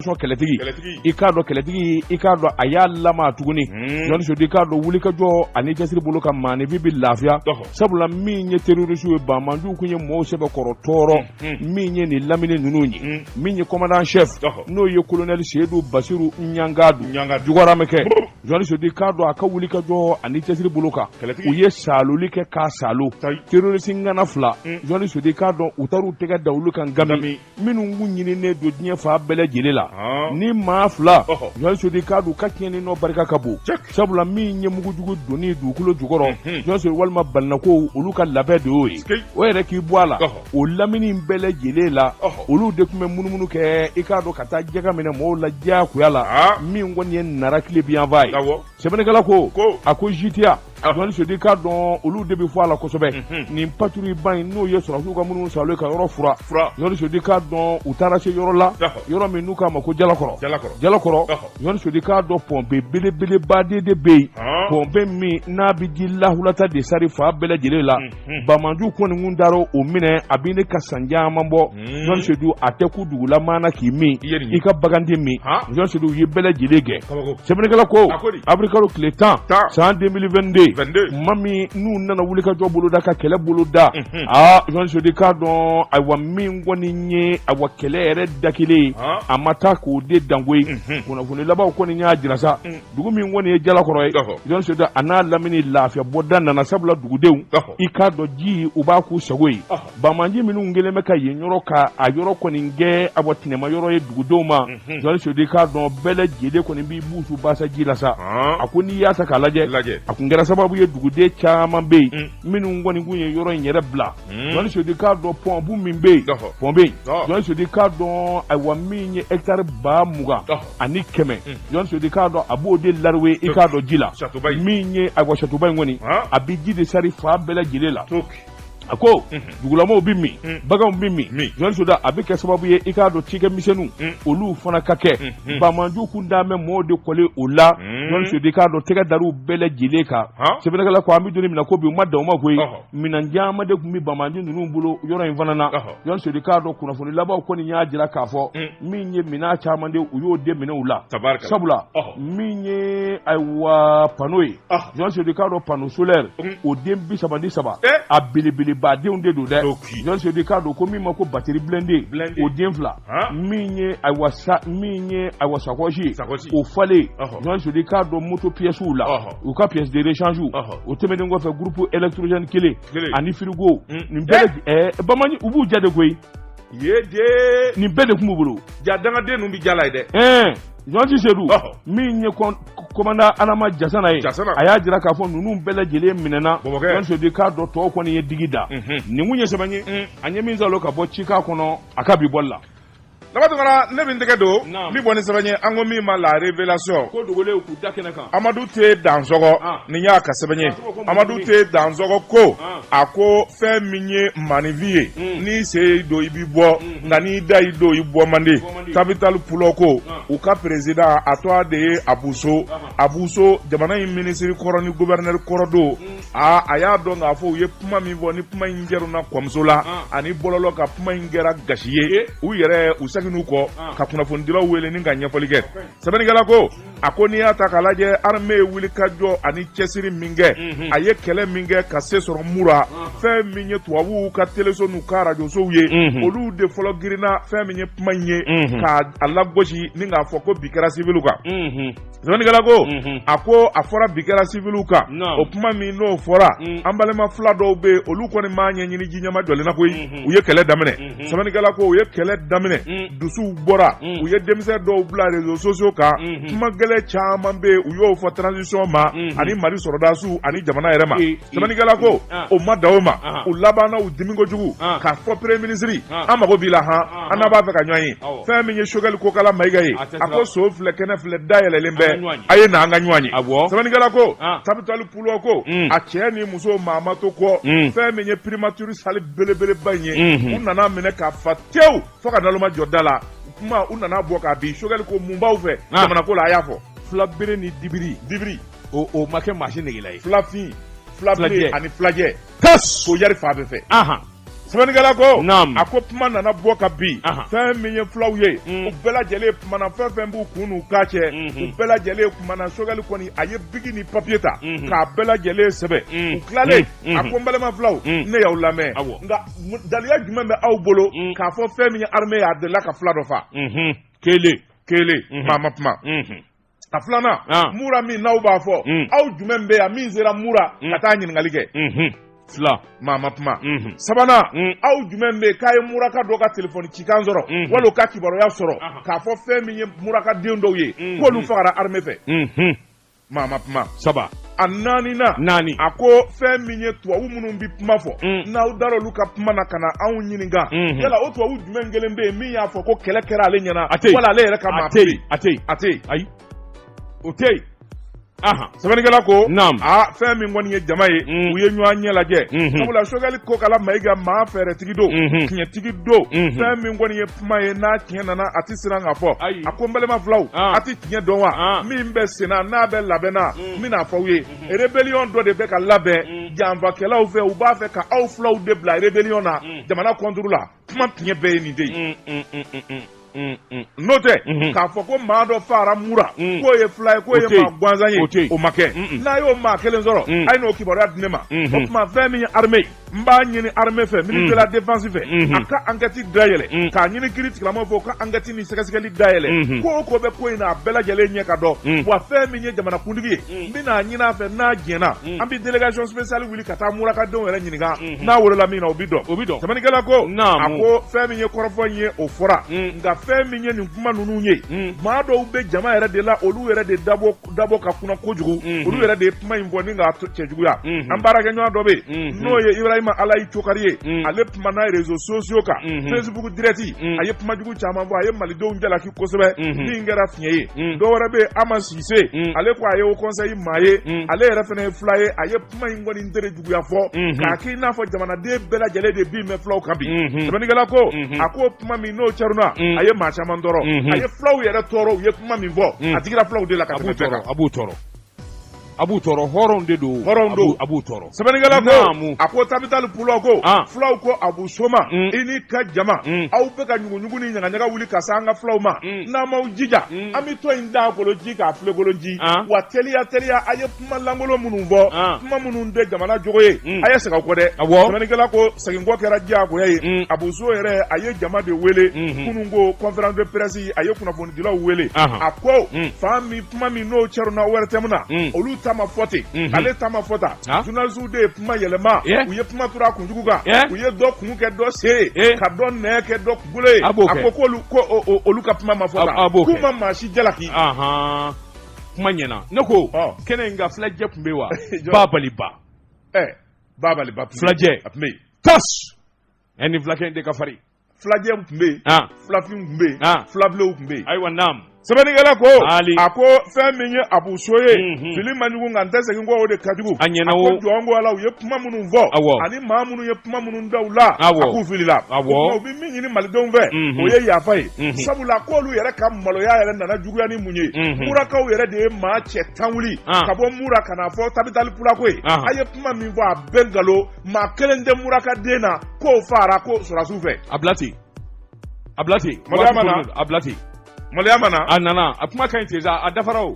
kɛlɛtigi i k'a dɔn kɛlɛtigi i k'a dɔn a y'a lama tuguni jɔn sedu i k'a dɔn wuli ka jɔ ani cɛsiri bolo kan maaninfin bɛ lafiya sabula min ye terorisi ye banmanjuw tun ye mɔgɔw sɛbɛkɔrɔ tɔɔrɔ min ye nin lamini ninnu ye min ye commandant chef n'o ye kolonɛli seyidu basiru ɲangado jukɔrɔma kɛ Sedu i k'a dɔn a ka wuli ka jɔ ani cɛsiri bolo kan u ye saaloli kɛ k'a saalo terorisi ŋana fila jɔn sedu i k'a dɔn u taara u tɛgɛ da olu kan gami minnu kun ɲininen don diɲɛ fan bɛɛ lajɛlen la ni maa fila jɔn sedu i k'a dɔn u ka tiɲɛni nɔ barika ka bon sabula min ye mugujugu donni dugukolo jukɔrɔ jɔn sedu walima balinakow olu ka labɛn de y'o ye o yɛrɛ k'i bɔ a la o lamini bɛɛ lajɛlen la olu de tun bɛ munumunu kɛ i k'a dɔn ka taa jaka minɛ mɔgɔw la diyagoya la min kɔni ye nara tilebinyanfan ye sɛbɛnnikɛla ko a ko jitiya jɔn sedu i k'a dɔn olu de bɛ fɔ a la kosɛbɛ nin patrouille ba in n'o ye sɔrɔsiw ka munumunu saalo ka yɔrɔ furan jɔn sedu i k'a dɔn u taara se yɔrɔ la yɔrɔ min n'u k'a ma ko jalakɔrɔ jalakɔrɔ jɔn sedu i k'a dɔn pɔnpe belebelebaden de bɛ yen pɔnpe min n'a bɛ ji lawulita de sari fan bɛɛ lajɛlen la Hmm. Bamaju kɔni kun taara o minɛ a bɛ ne ka san caman bɔ jɔn sedu a tɛ ku dugulamaa na k'i min i ka baganden min jɔn sedu u ye bɛɛ lajɛlen kɛ sɛbɛnnikɛla ko awirilikalo tile tan san deux mille vingt-deux ma min n'u nana wuli ka jɔ boloda ka kɛlɛ boloda aa jɔn sedu k'a dɔn ayiwa min kɔni ye awa kɛlɛ yɛrɛ da kelen a ma taa k'o de dangoye kunnafoni labanw kɔni y'a jira sa dugu min kɔni ye jalakɔrɔ ye jɔn sedu a n'a lamini lafiya bɔda nana sabula dugudenw i k'a dɔn ji u b'a k'u sago ye bamaju minnu kɛlen bɛ ka yen yɔrɔ ka a yɔrɔ kɔni kɛ awa tɛnɛma yɔrɔ ye dugudenw ma jɔn sedu i k'a dɔn bɛɛ lajɛlen kɔni b'i buusu basa ji la sa a ko n'i y'a ta k'a lajɛ a tun kɛra sababu ye duguden caman bɛ yen minnu kɔni kun ye yɔrɔ in yɛrɛ bila jɔn sedu i k'a dɔn pɔnpe min bɛ yen pɔnpe in jɔn sedu i k'a dɔn ayiwa min ye hectare ba mugan ani kɛmɛ jɔn sedu i k'a dɔn a b'o de lariwe i k'a dɔn ji la min ye awa châteauba in kɔni a bɛ ji de sari fan bɛɛ lajɛlen la a ko dugulamaw bɛ min baganw bɛ min jɔn sedu a bɛ kɛ sababu ye i k'a dɔn cikɛ misɛnninw olu fana ka kɛ bamaju kun d'a mɛn maaw de kɔlen o la jɔn sedu i k'a dɔn tɛgɛ dar'u bɛɛ lajɛlen kan sɛbɛnnikɛla ko an bɛ don min na ko bi u ma dan o ma koyi minɛn caman de tun bɛ bamaju ninnu bolo yɔrɔ in fana na Jɔn Sedu i k'a dɔn kunnafoni labanw kɔni y'a jira k'a fɔ un min ye minɛn caman de u y'o de minɛ u la tabarikala sabula ɔhɔ min ye ayiwa panneau ye ɔhɔ Jɔn Sedu i k'a dɔn panneau solaire un o den 30 ni 3 ee a belebelebadenw de don dɛ toki Jɔn Sedu i k'a dɔn ko min ma ko batterie blindée blindé o den 2 han min ye ayiwa sa min ye ayiwa sacoche ye sacoche o falen ɔhɔ Jɔn Sedu i k'a dɔn moto pièces u la ɔhɔ u ka pièces de rechange u ɔhɔ o tɛmɛnen kɔfɛ groupe électrogène 1 ani firigo nin bamanan u b'u jate koyi nin bɛɛ de tun b'u bolo ja dangaden ninnu bɛ jala ye dɛ ɲɔti sedu min ye commandant Adama Jasana ye a y'a jira k'a fɔ ninnu bɛɛ lajɛlen minɛna bamakɔdi k'a dɔn tɔw kɔni ye digi da nin tun ye sɛbɛn ye an ye min sɔrɔ ka bɔ Cikan kɔnɔ a ka bi bɔ la Laban tuma na ne bɛ n tɛgɛ don n bɛ bɔ ni sɛbɛn ye an ko min ma La Révélation ko dogolen k'u da kɛnɛ kan Amadu T Dansɔgɔ nin y'a ka sɛbɛn ye Amadu T Dansɔgɔ ko a ko fɛn min ye maninfin ye n'i sen y'i don i bɛ bɔ nka n'i da y'i don i bɔ man di Tabital Pulaku u ka président a tɔgɔ de ye Abu So Abu So jamana in minisiri kɔrɔ ni gouverneur kɔrɔ don aa a y'a dɔn k'a fɔ u ye kuma min fɔ ni kuma in kɛra na kɔmuso la ani bɔlɔlɔ kan kuma in kɛra gasi ye u yɛrɛ u seginn'u kɔ ka kunnafonidilaw wele ni ka ɲɛfɔli kɛ sɛbɛnnikɛla ko a ko n'i y'a ta k'a lajɛ armée ye wulikajɔ ani cɛsiri min kɛ mhm. a ye kɛlɛ min kɛ ka se sɔrɔ mura fɛn min ye tubabuw ka teleso n'u ka arajosow ye mhm. olu de fɔlɔ girinna fɛn min ye kuma in ye mhm. ka a lagosi ni k'a fɔ ko bin kɛra civils kan Sɛbɛnnikɛla ko, unhun, a ko a fɔra bin kɛra civils kan, naamu, o kuma min n'o fɔra, un, an balima fila dɔw bɛ yen olu kɔni m'a ɲɛɲini ji ɲɛmajɔlen na koyi, unhun, u ye kɛlɛ daminɛ, unhun, sɛbɛnnikɛla ko u ye kɛlɛ daminɛ, un, dusuw bɔra, un, u ye denmisɛn dɔw bila réseaux sociaux kan, unhun, kuma gɛlɛn caman bɛ yen u y'o fɔ transition ma, unhun, ani Mali sɔrɔdasiw ani jamana yɛrɛ ma. sɛbɛnnikɛla ko o ma dan o ma u labanna u dimi kojugu k'a fɔ premier ministre an mago b'i la h an b'a fɛ ka ɲɔgɔn ye fɛn min ye Sogɛli Kokala Mayiga ye a ko so filɛ kɛnɛ filɛ da yɛlɛlen bɛ a ye na an ka ɲɔgɔn ye sɛbɛnnikɛla ko Tabital Pulaku a cɛ ni muso maa ma to kɔ fɛn min ye primature salle belebeleba in ye u nan'a minɛ k'a fa tewu fo ka naloma jɔ da la kuma u nana bɔ ka bin Sogɛli ko mun b'aw fɛ jamana ko la a y'a fɔ filabere ni dibiri dibiri o ma kɛ maa si negela ye filafin fila ani filajɛ ko yari fa bɛ fɛ sɛbɛnnikɛla ko a ko kuma nana bɔ ka bin fɛn min ye fulaw ye mm. u bɛɛ lajɛlen kumana fɛn fɛn b'u kun n'u k'a cɛ mm-hmm. u bɛɛ lajɛlen kumana sogɛli kɔni a ye biki ni papiye ta mm-hmm. k'a bɛɛ lajɛlen sɛbɛn mm. u tilalen a mm-hmm. ko n balima fulaw ne y'aw lamɛn nka daliya jumɛn bɛ aw bolo k'a fɔ fɛn min ye armée ye a delila ka fula dɔ fa kelen kelen maa ma kuma A filanan mura min n'aw b'a fɔ aw jumɛn bɛ yan min sera mura ka taa ɲininkali kɛ fila maa ma kuma sabanan aw jumɛn bɛ k'a ye muraka dɔ ka telefoni cikan sɔrɔ wali ka kibaruya sɔrɔ k'a fɔ fɛn min ye muraka den dɔw ye k'olu fagara armée fɛ maa ma kuma saba a naani naani a ko fɛn min ye tubabu minnu bɛ kuma fɔ mm. n'aw dara olu ka kuma na ka na anw ɲininka mm-hmm. yala o tubabu jumɛn kelen bɛ yen min y'a fɔ ko kɛlɛ kɛra ale ɲɛna wala ale yɛrɛ ka maa tɛ yen a tɛ yen a tɛ yen ayi o tɛ yen sɛbɛnnikɛla ko a fɛn min kɔni ye jama ye mm. u ye ɲɔgɔn ɲɛ lajɛ mm-hmm. sabula sogɛli kokala mayiga maa fɛɛrɛtigi don mm-hmm. tiɲɛtigi don fɛn min kɔni ye kuma ye n'a tiɲɛ nana a tɛ siran k'a fɔ a ko n balima filaw a tɛ tiɲɛ dɔn wa min bɛ senna n'a bɛ labɛnna n bɛna fɔ aw ye rebellion dɔ de bɛ ka labɛn janfakɛlaw fɛ u b'a fɛ ka aw filaw de bila rebellion na jamana contre la kuma tiɲɛ bɛɛ ye nin de ye. n'o tɛ k'a fɔ ko maa dɔ faara mura k'o ye fila ye k'o ye maa gansan ye o ma kɛ n'a y'o maa kelen sɔrɔ a ye n'o kibaruya di ne ma o tuma fɛn min ye armée ye n b'a ɲini armée fɛ ministère de la défense fɛ a ka enquête dayɛlɛ k'a ɲini kiiri tigilamaaw fɛ u ka enquête ni sɛgɛsɛgɛli dayɛlɛ ko o ko bɛ ko in na a bɛɛ lajɛlen ɲɛ ka dɔn wa fɛn min ye jamanakuntigi ye n bɛna a ɲini a fɛ n'a jɛnna an bɛ délégation spéciale wuli ka taa murakadenw yɛrɛ ɲininka n'a wolola min na o bɛ dɔn o bɛ dɔn sɛbɛnnikɛla ko a ko fɛn min ye kɔrɔfɔ in ye o fɔra nka fɛn min ye nin kuma ninnu ye maa dɔw bɛ jama yɛrɛ de la olu yɛrɛ de dabɔ dabɔ ka kunan kojugu mhm. olu yɛrɛ de ye kuma in fɔ ni k'a cɛjuguya mhm. an baarakɛɲɔgɔn dɔ bɛ yen mhm. n'o ye ibrahima alayi cokari ye ale kumana réseaux sociaux kan facebook direct a ye kuma jugu caman fɔ a ye malidenw jalaki kosɛbɛ min kɛra fiɲɛ ye dɔ wɛrɛ bɛ yen ama sise ale ko a ye haut conseil maa ye ale yɛrɛ fana ye fila ye a ye kuma in kɔni tere juguya fɔ k'a k'i n'a fɔ jamanaden bɛɛ lajɛlen de bin bɛ fulaw kan bi sɛbɛnnikɛla ko a ko kuma min n'o caruna a ye maa caman tɔɔrɔ a ye fulaw yɛrɛ tɔɔrɔ u ye kuma min fɔ a digira fulaw de la ka tɛmɛ bɛɛ kan a b'u tɔɔrɔ a b'u tɔɔrɔ hɔrɔnw de don hɔrɔnw don a b'u tɔɔrɔ sɛbɛnnikɛla ko a ko tabitali pulaku fulaw ko abu so ma i n'i ka jama aw bɛ ka ɲuguɲugu ni ɲagaɲaga wuli ka se an ka fulaw ma n'aw m'aw jija an bɛ tɔn in daakolonci k'a filenkolonci wa teliya teliya a ye kuma lankolon minnu fɔ kuma minnu tɛ jamana jogo ye a ye segin aw kɔ dɛ sɛbɛnnikɛla ko seginkɔ kɛra diyagoya ye abu so yɛrɛ a ye jama de wele kunun ko conférence de presse a ye kunnafonidilaw wele a ko fan min kuma min n'o cɛruna ortm na olu ta ma fɔ ten ale ta ma fɔ tan journalistes de ye kuma yɛlɛma u ye kuma turu a kunjugu kan u ye dɔ kun kɛ dɔ sen ka dɔ nɛ kɛ dɔ kunkolo ye a ko olu ka kuma ma fɔ tan k'u ma maa si jalaki kuma ɲɛna ne ko kɛnɛ in kan filajɛ tun bɛ wa babaliba babaliba filajɛ a tun bɛ yen tas ɛ nin filakɛ in de ka farin filajɛ tun bɛ yen filafin tun bɛ yen filabilenw tun bɛ yen ayiwa naam sɛbɛnnikɛla ko a ko fɛn min ye abu so ye mhm. fili man jugu nka n tɛ segin kɔ o de ka jugu a ɲɛna o jɔn ko ala u ye kuma minnu fɔ ani maa minnu ye kuma minnu da u la a k'u filila u bɛ min ɲini malidenw fɛ mhm. o ye yafa ye mhm. sabula k'olu yɛrɛ ka maloya yɛrɛ nana juguya ni mun ye unhun murakaw yɛrɛ de ye maa cɛ tan wuli An. ka bɔ mura ka na fɔ tabitali pulaku ye An. a ye kuma min fɔ a bɛɛ nkalon maa kelen tɛ muraka den na k'o faara ko sɔrɔdasiw fɛ a bila ten a bila ten Maloya ma na. a bila ten maloya ma na a nana a kuma ka ɲi ten sa a dafara o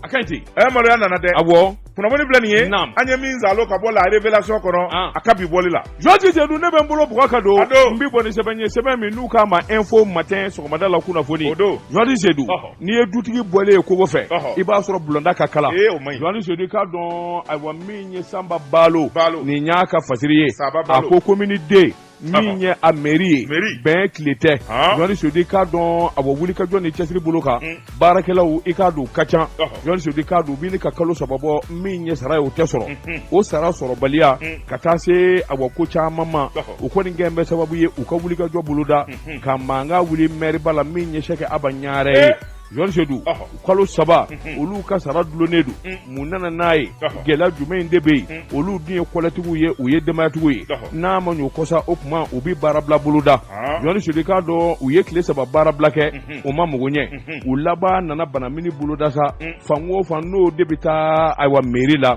a ka ɲi ten ɛ eh, maloya nana dɛ awɔ kunnafoni filɛ nin ye naam an ye min zalo ka bɔ la révélation kɔnɔ ah. a ka bi bɔli la jɔji sedu ne bɛ n bolo bugɔ ka don n bi bɔ ni sɛbɛn ye sɛbɛn min n'u k'a ma info matin sɔgɔmada la kunnafoni o don jɔji sedu n'i ye dutigi bɔlen ye kogo fɛ i b'a sɔrɔ bulonda ka kalan ee o man ɲi jɔji sedu k'a dɔn ayiwa min ye sanba balo nin y'a ka fasiri ye a ko komini deux min ye a mɛri ye bɛn tile tɛ général sedu k'a dɔn awa wuli ka jɔ ni cɛsiri bolo kan mm. baarakɛlaw i k'a don ka ca général sedu k'a dɔn bi ni ka kalo saba bɔ min ye sara ye o tɛ sɔrɔ mm-hmm. o sara sɔrɔbaliya mm. ka taa se awa ko caman ma o kɔni kɛlen bɛ sababu ye u ka wuli ka jɔ boloda mm-hmm. ka mankan wuli mɛriba la min ye sɛki aba ɲare ye eh! Sedu kalo saba olu ka sara dulonnen don mun nana n'a ye gɛlɛya jumɛn in de bɛ yen olu dun ye kɔlɛtigiw ye u ye denbayatigiw ye n'a ma ɲɛ o kɔ sa o tuma u bɛ baarabila boloda général sedu k'a dɔn u ye tile saba baarabila kɛ o ma mago ɲɛ u laban nana banamini boloda sa fan o fan n'o de bɛ taa ayiwa mɛri la